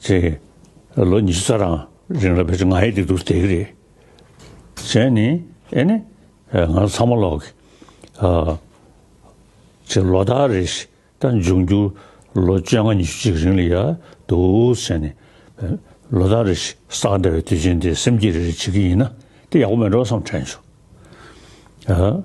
ཚེ། ལོ་ཉི་ཤུ་རྩ་གྲངས་རིང་ལ་བོད་ཀྱི་ང་ཡི་སྡིག་སྡུག་དེ་ག་རེད། གཞན་ནི། ཨེ་ནི། ང་ཚོ་ཚང་མ་ལོག་གི། ཅེས་ལོ་ཟླ་རེ་ཞིག་ལྟར་འབྱུང་འགྱུར་ལོ་བཅོ་ལྔ་ཉི་ཤུ་གཅིག་རིང་ལ་ཡ་འདུག་ཟེར་ནས། ལོ་ཟླ་རེ་ཞིག་བསགས་འདྲ་བའི་དུས་ཆེན་དེ་སེམས་སྐྱིད་རེ་རེ་བྱེད་ཀྱི་ཡིན་ན་དེ་ཡག་པོ་མེད་འགྲོ་བསམ་དྲན་བྱུང།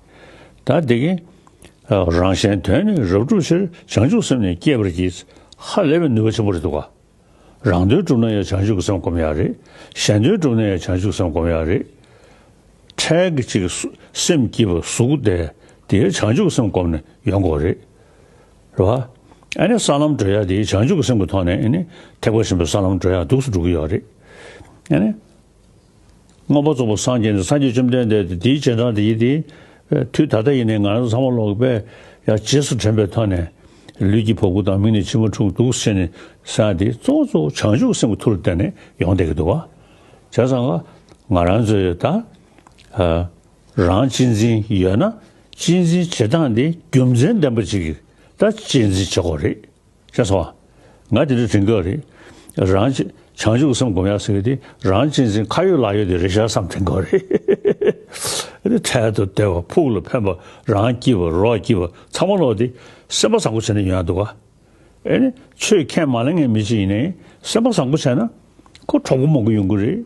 ད་དེ་གིན། རང་གཞན་དོན་ནི་རབ་བསྒྲུབ་ཕྱིར་བྱང་ཆུབ་སེམས་ནི་བསྐྱེད་པར་གྱིས། ཧ་ལས་པའི་ནུས་པ་ཆེན་པོ་རེད་འདུག་ག། རང་དོན་བསྒྲུབ་ན་ཡང་བྱང་ཆུབ་ཀྱི་སེམས་སྒོམ་ཡག་རེད། གཞན་དོན་བསྒྲུབ་ན་ཡང་བྱང་ཆུབ་ཀྱི་སེམས་སྒོམ་ཡག་རེད། འཕྲལ་གྱི་ཅིག། སེམས་སྐྱིད་པ་གཟུགས་བདེ། དེའི་བྱང་ཆུབ་ཀྱི་སེམས་སྒོམ་ནས་ཡོང་དགོས་རེད། རེད་བ། ཨ་ནི་ས་ལམ་བགྲོད་ཡག་དེའི་བྱང་ཆུབ་ཀྱི་སེམས་ཀྱི་ཐོག་ནས་ཨ་ནི་ཐེག་པ་ཆེན་པོའི་ས་ལམ་བགྲོད་ཡག་སྡུགས་སུ་འགྲོ་གི་ཡོད་རེད། ཨ་ནི། མངོན་པ་རྫོགས་པར་སངས་རྒྱས་ནས་སངས་རྒྱས་བཅོམ་ལྡན་འདས་དེ་དེའི་རྗེས་འབྲངས་ཏེ་ཡིད་དེ། དུས་ད་ལྟ་ཡིན་ནས་ང་རང་ཚང་མ་ལོག་པས་ཡང་རྗེས་སུ་དྲན་པའི་ཐོག་ནས། ལུས་ཀྱི་བ་གུ་དང་མིག་ནས་མཆི་མ་འཁྲུགས་འདུག་ཟེར་ནས་སངས་ཏེ་གཙོ་བོ་གཙོ་བོ་བྱང་ཆུབ་སེམས་ཀྱི་མཐུར་བསྟན་ནས་ཡོང་བསྡད་ཀྱི་འདུག་བ། བྱས་ཙང་ང་ང་རང་ཚོས་ད་རང་གཅེས་འཛིན་ཡོད་ན་གཅེས་འཛིན་བྱེད་སྟངས་དེ་རྒྱུ་མཚན་ལྡན་པ་ཅིག་གིས་ད་གཅེས་འཛིན་བྱེད་དགོས་རེད། ཁྱེད་ཚོ། ང་དེ་འདྲའི་དྲིན་སྐར་རེད། རང། བྱང་ཆུབ་སེམས་སྒོམ་ཡག་ཟེར་གི་དེ་རང་གཅེས་འཛིན་ཁ་ཡོད་ལག་ཡོད་དེ་རེད་ཤར་བསམ་དྲིན་སྐར་རེད། འཕྲལ་དུ་བདེ་བ་ཕུགས་ལ་ཕན་པ་རང་སྐྱིད་པ་རོགས་སྐྱིད་པ་ཚང་མ་ལོག་དེ་སེམས་པ་བཟང་པོ་བྱས་ན་ཡོང་ཡག་འདུག་ཨ། ཆོས་མཁས་མ་ལ་ངས་མི་གཅིག་ཡིན་ནའི་སེམས་པ་བཟང་པོ་བྱས་ན་ཁོ་གྲོགས་པོ་མང་པོ་ཡོང་གི་རེད།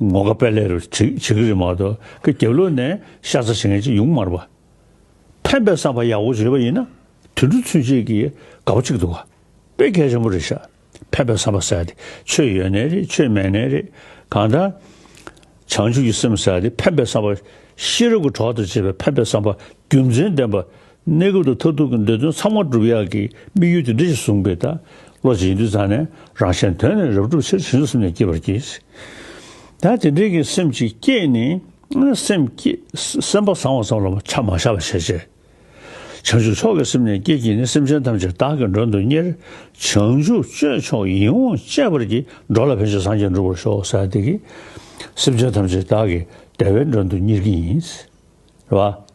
ངོ་དགའ་དཔལ་ལེ་རུ་བྱིས་ཀྱི་རི་མ་དོ་ཀི་རྒྱབ་ལོགས་ནས་ཤ་ཚ་བྱེད་མཁན་གཅིག་ཡུང་མར་བ། ཕན་པའི་བསམ་པ་ཡག་པོ་བྱེད་པ་ཡིན་ན་དུད་འགྲོ་ཚུན་ཆད་ཀྱི་དགའ་བོ་གཅིག་འདུག་ག་དཔེ་གལ་ཆེན་པོ་རེད་ཤག་ཕན་པའི་བསམ་པ་ཟེར་དེ་ཆོས་ཡོད་ནས་རེད་ཆོས་མེད་ནས་རེད་གང་ལྟར། བྱང་ཆུབ་ཀྱི་སེམས་ཟེར་དེ་ཕན་པའི་བསམ་པ་ཤེས་རབ་ཀྱི་གྲོགས་དང་བཅས་པའི་ཕན་པའི་བསམ་པ་རྒྱུ་མཚན་ལྡན་པ་གནས་སྐབས་དང་མཐར་ཐུག་གི་འདོད་དོན་ཚང་མ་སྒྲུབ་ཡག་གི་དམིགས་ཡུལ་དེ་འདི་ཞེས་གསུངས་པས་ད་བློ་ཇེ་ཡིན་དུས་ཚང་ནས་རང་གཞན་དོན་ནི་རབ་སྒྲུབ་ཕྱིར་བྱིན་གཟུགས་སེམས་ནས་བསྐྱེད་པར་གྱིས། ད་དེ་འདྲའི་གི་སེམས་ཅིག་བསྐྱེད་ནས་སེམས་བསྐྱེད་སེམས་པ་བཟང་བ་ཙམ་ལ་ཆ་མ་བཞག་པར་བྱས་རྗེས། བྱང་ཆུབ་མཆོག་གི་སེམས་ནས་བསྐྱེད་ཀྱིས་ནི་སེམས་ཅན་ཐམས་ཅད་བདག་གི་མགྲོན་དུ་གཉེར། བྱང་ཆུབ་སྤྱོད་མཆོག་ཡིད་འོང་སྤྱད་པར་གྱིས་འགྲོ་ལ་ཕན་ཆད་སངས་རྒྱས་འགྲུབ་པར་ཤོག་ས་དེ་གིས། སེམས་ཅན་ཐམས་ཅད་བདག་གི་བདེ་བའི་མགྲོན་དུ་གཉེར་གྱིས་ཡིན། རེད་བ།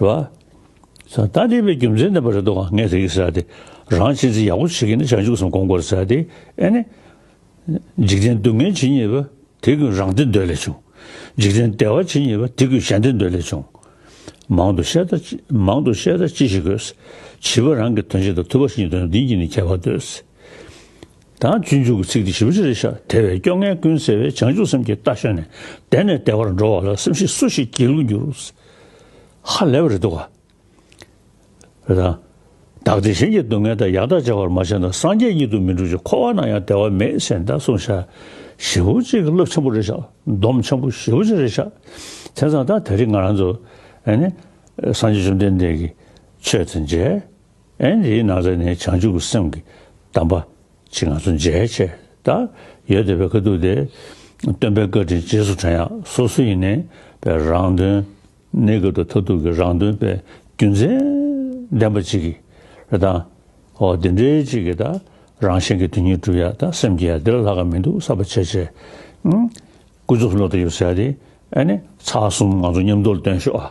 རེད་བ། ད་ལྟ་འདས་པའི་རྒྱུ་མཚན་ལྡན་པ་རེ་དོགས་ང་ངས་རིག་ཟེར་ཏེ་རང་བྱས་རྩིས་ཡག་པོ་བྱེད་མཁན་ནི་བྱང་ཆུབ་སེམས་ཁོང་དགོར་ཟེར་ཏེ་ཨེ་ནས། འཇིག་རྟེན་སྡུག་བསྔལ་ཇི་སྙེད་པ་དེ་ཀུན་རང་བདེ་འདོད་ལས་བྱུང། འཇིག་རྟེན་བདེ་བ་ཇི་སྙེད་པ་དེ་ཀུན་ཞལ་འདེབས་འདོད་ལས་བྱུང། མང་དུ་བཤད་ད་མང་དུ་བཤད་ད་ཅི་ཞིག་དགོས། བྱིས་པ་རང་གི་དོན་བྱེད་ད་ཐུབ་པ་ཞིག་ཡིན་དོན་བདུན་གྱིས་ནི་ཁྱད་པར་འདོད། དང་སྤྱོད་འཇུག་གི་ཚིག་དེ་བཞི་པོ་ཅི་རེད་ཤག་དེ་བས་སྐྱོ་ངལ་ཀུན་སེལ་བའི་བྱང་ཆུབ་སེམས་ཀྱི་རྟ་ཞོན་ནས་དལ་ནས་དལ་བར་འགྲོ་བ་ལ་སེམས་ཤིག་སུ་ཞིག་གྱིས་ལུས་འགྱུར། ཧ་ལས་པ་རེད་འདུག་ག་རེད་དམ། བདག་དེ་བཞིན་གྱི་སྡུག་བསྔལ་དང་ཡག་ཐག་ཅེས་པར་མ་བྱས་ན་སངས་རྒྱས་ཉིད་དུ་མི་འགྲུབ་ཅིང་འཁོར་བ་ན་ཡང་བདེ་བ་མེད་ཅེས་འདི་གསུངས་ཤག་བཞི་པོ་ཅི་གི་བསླབ་ཆེན་པོ་རེད་ཤག་སྡོམ་ཆེན་པོ་བཞི་པོ་ཅི་རེད་ཤག་དེང་སང་ད་དེ་རིགས་ང་རང་ཚོ་ཨ་ནི་སངས་རྒྱས་བཅོམ་ལྡན་འདས་ཀྱི་ཆོས་དང་མཇལ། ཨེ་འདིའི་སྣང་ཚད་ནི་བྱང་ཆུབ་ཀྱི་སེམས་ཀྱི་གདམས་པ་ཅིག་ང་ཚོ་མཇལ་ཆེད་དུ་ཡོད་དེ་བས་དཀའ་སྡུག་དེ་སྟོན་པའི་བཀའ་དྲིན་རྗེས་སུ་དྲན་ཡག་སོ་སོ་ཡིན་ནའི་བས་རང་དོན་ནི་དགོས་འདུག་མཐར་ཐུག་གི་རང་དོན་བས་རྒྱུ་མཚན་ལྡན་པ་ཅིག་གིས་རེད་ད། ཨོ་འདི་འདྲའི་ཅིག་གིས་ད་རང་གཞན་གྱི་དོན་སྙིང་བསྒྲུབ་ཡག་ད་སེམས་ཀྱི་ཡ་འདི་ལ་ལྷག་ག་མི་འདུག་གསར་པ་ཆེ་ཆེ། སྐུ་གཟུགས་བློ་དང་ཡོད་ས་ཡ་དེ་ཨེ་ནས་ཚ་གསུམ་ང་ཚོ་མཉམ་དུ་སྟོན་ཤོག་ཨ།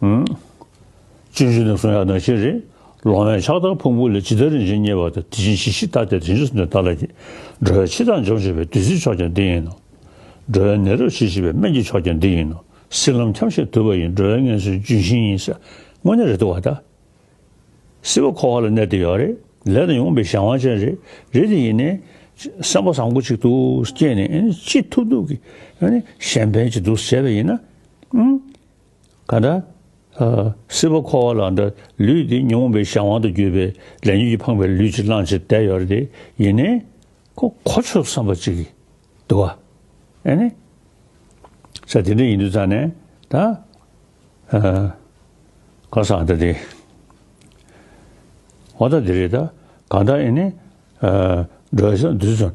སྤྱོད་རྒྱུ་ནི་གསུང་ཡག་ནོར་ཆེན་རེད། ལོང་བའི་ཕྱག་དར་ཕུང་པོ་ལས་ཇི་ལྟར་རིན་ཆེན་རྙེད་པ་དང་དེ་བཞིན་གཞི་ཤིག་བཏགས་ཏེ་དེ་ཕྱིར་འདོན་ལྟ་ལ་གྱིས། འགྲོ་བའི་འཆི་བདག་འཇོམས་བྱེད་པའི་བདུད་རྩིའི་མཆོག་ཀྱང་འདི་ཡིན་ནོ། འགྲོ་བའི་ནད་རོ་བྱེད་ཤེས་པའི་སྨན་གྱི་མཆོག་ཀྱང་འདི་ཡིན་ནོ། སྲིད་ལམ་འཁྱམས་ཤིང་དུལ་བ་ཡིན་འགྲོ་བའི་ངན་སོའི་ལྗོན་ཤིང་ཡིན། དངོས་གནས་རེད་དོ་བ་ད། སྲིད་པ་འཁོར་བ་ལ་གནས་དེ་ཡོད་རེད། ལས་དང་ཡོང་པའི་གཞན་དབང་ཅན་རེད། རེད་དེ་ཡིན། སེམས་པ་བཟང་པོ་གཅིག་ཏུ་སྐྱེས་ནས་ཅི་ཐུབ་ཐུབ་ཀྱིས་གཞན་ཕན་གྱི་འདུག་ཟེར་བ་ཡིན་ན། གང་འདྲ། སྲིད་པ་འཁོར་བ་ལ་འདྲ་ལུས་འདི་ཉོན་མོངས་པའི་གཞན་དབང་དུ་གྱུར་པའི་ལས་ཉོན་གྱིས་འཕངས་པའི་ལུས་ཕྱིར་བླངས་ཕྱིར་བསྡད་ཡོད་རེད་དེ་ཡིན་ནའི། ཁོ་གོ་ཆོད་བསམ་པ་ཅིག་གིས་འདུག་ཨ། ཨེ་ནས། ས་དེ་འདྲ་ཡིན་དུས་ཙང་ནས་ད། ཁ་སང་ད་དེ། ཧོ་ད་དེ་རེད་ད་གང་འདྲ་ཨེ་ནས། འགྲོ་བའི་ས་འདུས་ཙང།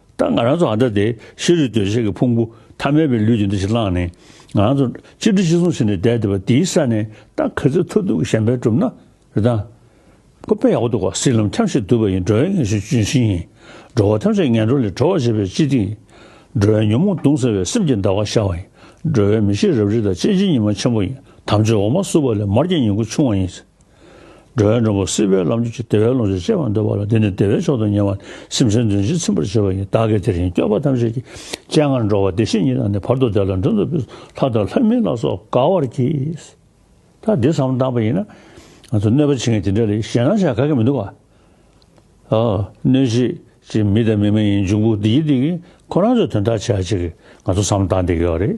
ད་ང་རང་ཚོ་འང་ད་དེ་ཤེས་རིག་འདོད་ཆགས་ཀྱི་ཕུང་པོ་ཐ་མལ་པའི་ལུས་ཀྱི་འདི་ཞིག་བླངས་ནས་ང་རང་ཚོ་གཅིག་འདྲི་གཅིག་གསུང་བྱས་ནས་བསྡད་འདི་བ་འདིའི་ས་ནས་ད་ག་ཚོད་ཐུབ་ཐུབ་ཀྱི་གཞན་ཕན་གྲུབ་ན་རེ་ད། ཁོ་དཔེ་ཡག་པོ་འདུག་ག་སྲིད་ལམ་འཁྱམས་ཤིག་འདུག་པ་ཡིན་འགྲོ་བའི་ངན་ཤུགས་ཅུང་ཞན་ཡིན་འགྲོ་བ་ཐམས་ཅད་ངན་འགྲོ་ལས་གྲོལ་བར་བྱེད་པའི་སྤྱི་ཏི་ཡིན་འགྲོ་བའི་ཉོན་མོངས་དུང་ཟེར་བའི་སེམས་ཀྱི་འདའ་བ་ཤར་བ་ཡིན་འགྲོ་བའི་མི་ཤེས་རབ་རིགས་དང་དཔྱད་གཞི་ཉི་མ་ཆེན་པོ་ཡིན་དམ་ཆོས་འོ་མ་བསྲུབས་པ་ལས་མར་གྱི་ཉིང་ཁུ་ཆུང་བ་ཡིན། འགྲོ་བའི་འགྲོ་ཀུན་སྲིད་པའི་ལམ་གྱིས་བདེ་བའི་ལོངས་སྤྱོད་སྤྱད་པར་འདོད་པ་ལ་དེ་ནི་བདེ་བའི་མཆོག་ཏུ་ཉེ་བར་སེམས་ཅན་འདུལ་བྱེད་ཚིམ་པར་བྱེད་པ་ཡིན་བདག་གིས་དེ་བཞིན་སྐྱོབ་པ་ཐམས་ཅད་ཀྱི་སྤྱན་སྔར་འགྲོ་བ་བདེ་གཤེགས་ཉིད་དང་ནི་བར་དོ་བདེ་ལ་འགྲོ་འདུལ་བའི་ལྷ་དང་ལྷ་མིན་ལ་སོགས་དགའ་བར་གྱིས། ད་འདི་ཙམ་བཏང་བ་ཡིན་ན། ང་ཚོ་གནོད་པ་བྱེད་མཁན་དེ་འདྲ་ལས་གཞན་ལ་བྱ་ག་གི་མི་འདུག་ག། གནོད་བྱེད་ཅིག་མི་དང་མི་མ་ཡིན་འབྱུང་པོ་འདི་གཉིས་འདི་གཉིས་ཁོ་རང་ཚོའི་དོན་དག་བྱེད་ཅིག་ང་ཚོ་ཙམ་བཏང་བསྡད་ཀྱི་ཡོད་རེད།